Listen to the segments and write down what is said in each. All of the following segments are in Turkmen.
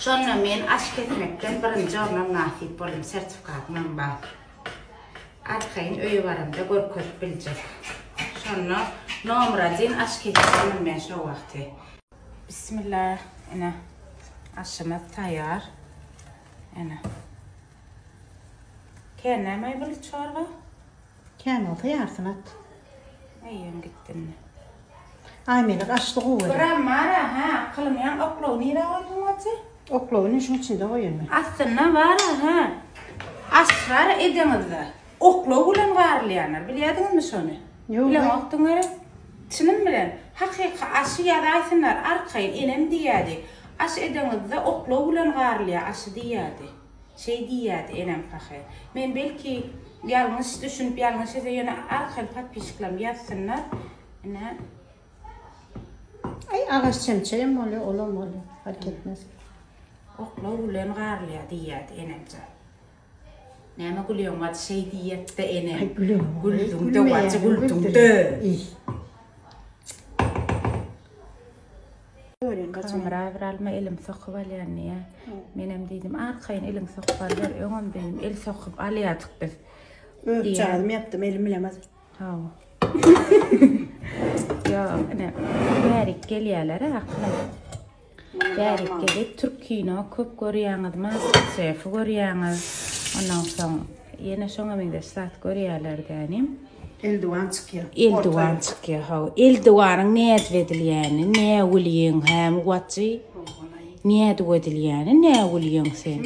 Şonda men aş kesmekden birinji orna mynasyp boldum, sertifikatymam bar. Arkaýyn öýe baramda görkezip biljek. Şonda nomer adin aş kesýändim men şo wagty. Bismilla, ine, aşymyz taýýar. Ene. Kän näme bu çorba? Kän bolsa ýarsyny at. Eýýäm gitdi indi. Aýmele gaçdy gowy. Buram bar-a, hä, akylyň ýan oklawy nirä goýduň goja? Oklawy indi şuň içinde goýan men. Astynda bar-a, hä. Aşgar edeňizde oklaw bilen garylýanlar, bilýädiňizmi şony? Ýok. Bileňokdyň gerek. Çynym bilen, hakyky aşy ýazaýsynlar, arkaýyn enem diýýärdi, aş edeňizde oklaw bilen garylýar aşy diýýärdi. Şeý diýýädi enem pahy. Men belki ýalňyş düşünip ýalňyş ede ýöne arkaýyn podpişiklerim ýazsynlar. Ine. Aý agaç çemçe hem bolýa olam bolýa fark etmez. Oklaw bilen garylýa diýýädi enemjan. Näme gülýoň wajy şeý diýýätde enem. Aý gülüm. Güldüňde wajy güldüňde. Kamyr abyr alma elim sokup alýan diýýä. Menem diýdim, arkaýyn elim sokup alýar, öňem diýdim, el sokup alýardyk biz. Öz çagym ýapdym, elim bilen az. Hawa. Ýok, ine, bärik gelýärler, akyl. Bärik gelip, türk kino köp görýäňiz, Masterchef görýäňiz. Ondan soň Ýene şoňa meňzeş zat görýärler dänim. Eldiwan çykýa. Eldiwan çykýa haw. Eldiwanyň nädip edilýäni, nä wulýeň häm watjy. Nädip edilýäni, nä wulýeň sen.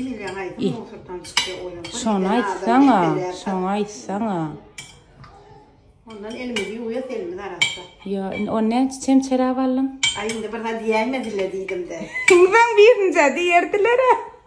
Şoňa aýtsaňa, şoňa aýtsaňa. Ondan elimizi ýuwýa elimiz arassa. Ýa, on näçe çemçerap aldyň? Aý, indi bir zat diýäýme dile diýdim-de. Indi birinjä diýerdiler-ä.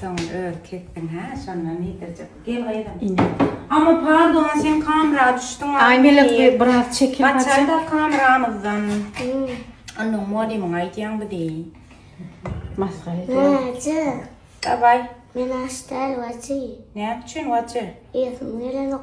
Soňuny özi kesdiň hä şonda nidirjek gel gyzym. Ine. Amma pardon sen kamera düşdüň. Aý melek bir biraz çekil gaty. Gaçaýda kameramyzdan. Onuň modemini aýtýaň bu deý. Masgara edýär. Näce? Daway. Men aşdar waçy. Näme üçin waçy? Ýetim gelenok.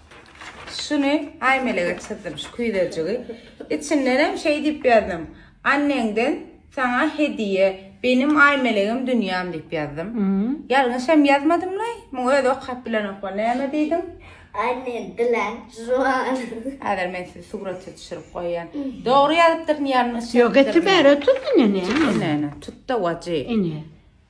Şuny Aýmelege çyzdym, şu küýzejigi. Içindenem şeý diýip ýazdym, Anneňden saňa hediýe, benim Aýmelegim dünýäm diýip ýazdym. Ýalňyş hem ýazmadym-laý, muňa özi okap bilenok bol. Näme diýdiň? Annem bilen juwan. Häzir men sizi surata düşürip goýýan. Dogry ýazypdyryn, ýalňyş ýazypdyryn. Ýok, getir bäri otur ine. Ine, ine, tut-da wajy. Ine.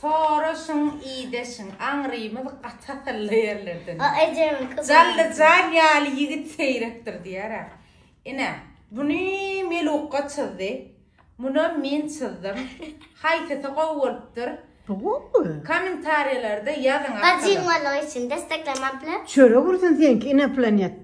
Soraşyň ideşiň aňrymyz gaty asylly ýerlerden. A ejemin gyzy. Jallyjan ýaly ýigit seýrekdir diýärä. Ine, buny Melukga çyzdy. Munam men çyzdym. Haýsysy gowy bolupdyr? Bu gowy. Kommentariýalarda ýazyň arkadan. Gajyň boldugy üçin desteklemäpler. Çörek ursun seňki inoplanetdan.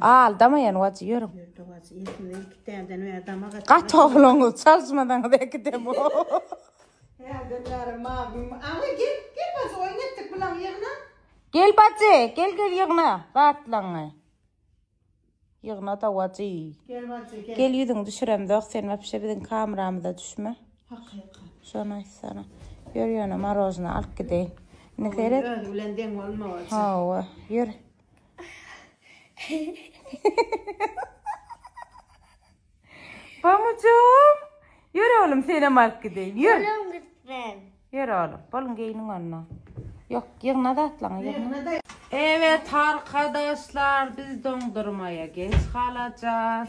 Aldamaýan wajy ýörüň. Gaty oglan çalyşmadan belki de bu. Gel bajy, gel gel ýygna zatlaňy. Ýygna da wajy. Gel bajy, gel. Gel ýüzüňi düşüremzok, sen wapşe biziň kameramyza düşme. Hakykat. Şony aýtsana. Ýör ýöne marojna alyp gideýin. Indi seret. Onuň özi bilen deň bolmagy üçin. Hawa, ýör. Pamujygym. Ýör oglum, senem alyp gideýin. Ýör. Olam gitmän. Ýör oglum. Bolun geýiniň onda. Ýok, ýygna zatlaňy, ýygna. Ebet arkadaşlar, biz doňdurmaýa geç galajak.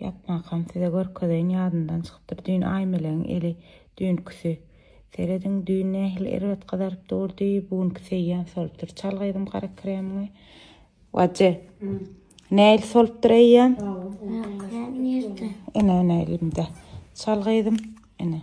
Ýatmakam size görkezeýin ýadymdan çykypdyr. Düýn Aýmelegiň eli düýnküsi. Serediň düýn nähili erbet gyzaryp durdy, bu günki seýýän solupdyr. Çal gyzym gara kremiňi. Waje. Nähili solupdyr eýýäm? Ene ene elimde. Çal gyzym. Ene.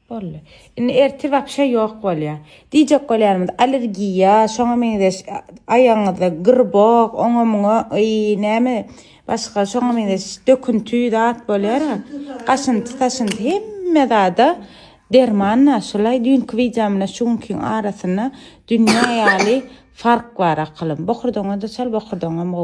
Boldy. Indi ertir wapşe ýok bolýa. Diýjek bolýanymyz, allergiýa, şoňa meňzeş, aýagyňyzda grbok, oňa-muňa, yý, näme, başga şoňa meňzeş dökünti zat bolýar-a. Gaşynty-saşynty, hemme zada derman-a. Şulaý düýnki wideom bilen şu günkiň arasynda dünýä ýaly fark bar akylym. Bokurdagyňa-da çal, bokurdagyňam gowy.